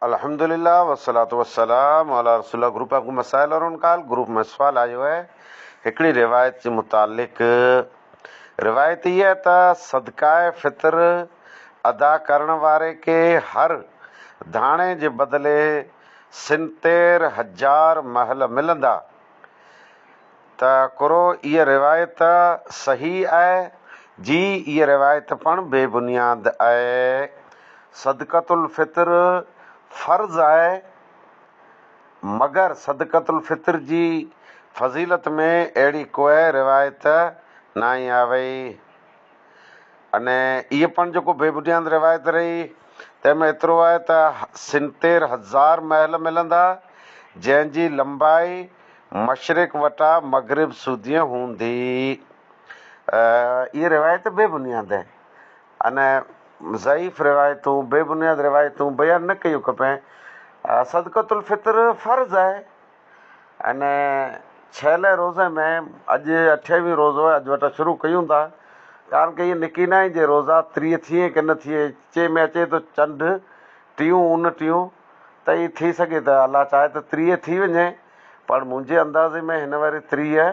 الحمد لله والصلوة والسلام علی رسول الله گروپ ۾ ڪو مسائل وارو نه ڪال گروپ ۾ سوال آيو آهي هڪڙي روايت جي متعلق روايت هي آهي ته صدقاء فطر ادا ڪرڻ واري کي هر داڻي جي بدلي سنتير هزار محل ملندا ته ڪرو اهي روايت صحيح اهي جي اهي روايت پڻ بي بنياد اهي صدقت الفطر فرض اهي مگر صدقت الفطر جي فضيلت ۾ اهڙي ڪوئي روايت ناهي آوئي ان اهي پڻ جيڪو بي بنياد روايت رهي تنهن ۾ ايترو اهي ته سنتير هزار محل ملندا جنهن جي لمبائي مشرق وٽا مغرب سوديء هوندي. اهي روايت بي بنياد آهن ۽ ضعيف روايتون، بي بنياد روايتون بيان نه ڪيون کپين. صدقة الفطر فرض آهي ۽ ڇهلين روزي ۾ اڄ اٺيوين روزو آهي، اڄ وٽان شروع ڪيون ٿا، ڪارڻ ڪي اهي نڪينائين جي روزا تريء ٿئي ڪي نه ٿئي، چي ۾ اچي ٿو چنڊ ٽيون اون ٽيون تئي ٿي سگهي ته الله چاهي ته تريء ٿي وڃي. پر منهنجي اندازي ۾ هن وري تريهه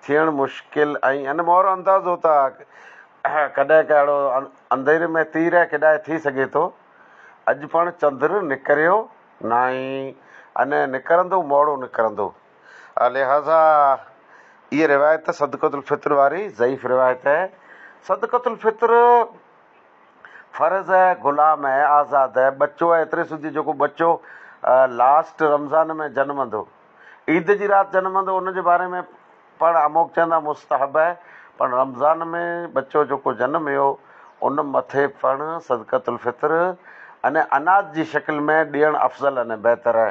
ٿيڻ مشڪل ۽ ان مهر اندازو ته ڪڏهن ڪا اهڙو انڌيري ۾ تير ڪيڏانهن ٿي سگهي ٿو. اڄ پڻ چندر نڪريو ناهي ۽ نه نڪرندو موڙو نڪرندو. لهٰذا اهي روايت صدقة الفطر واري ضعيف روايت صدقة الفطر. فرض ء غلام ء آزاد ء ٻچو ء ايتري سوڌي جيڪو ٻچو لاسٽ رمضان ۾ جنمندو، عيد جي رات جنمندو، ان جي باري ۾ پڻ اموڪ چوندا مستحب ء پڻ رمضان ۾ ٻچو جيڪو جنميو ان مٿي پڻ صدقة الفطر، يعني اناج جي شڪل ۾ ڏيڻ افضل يعني بهتر ء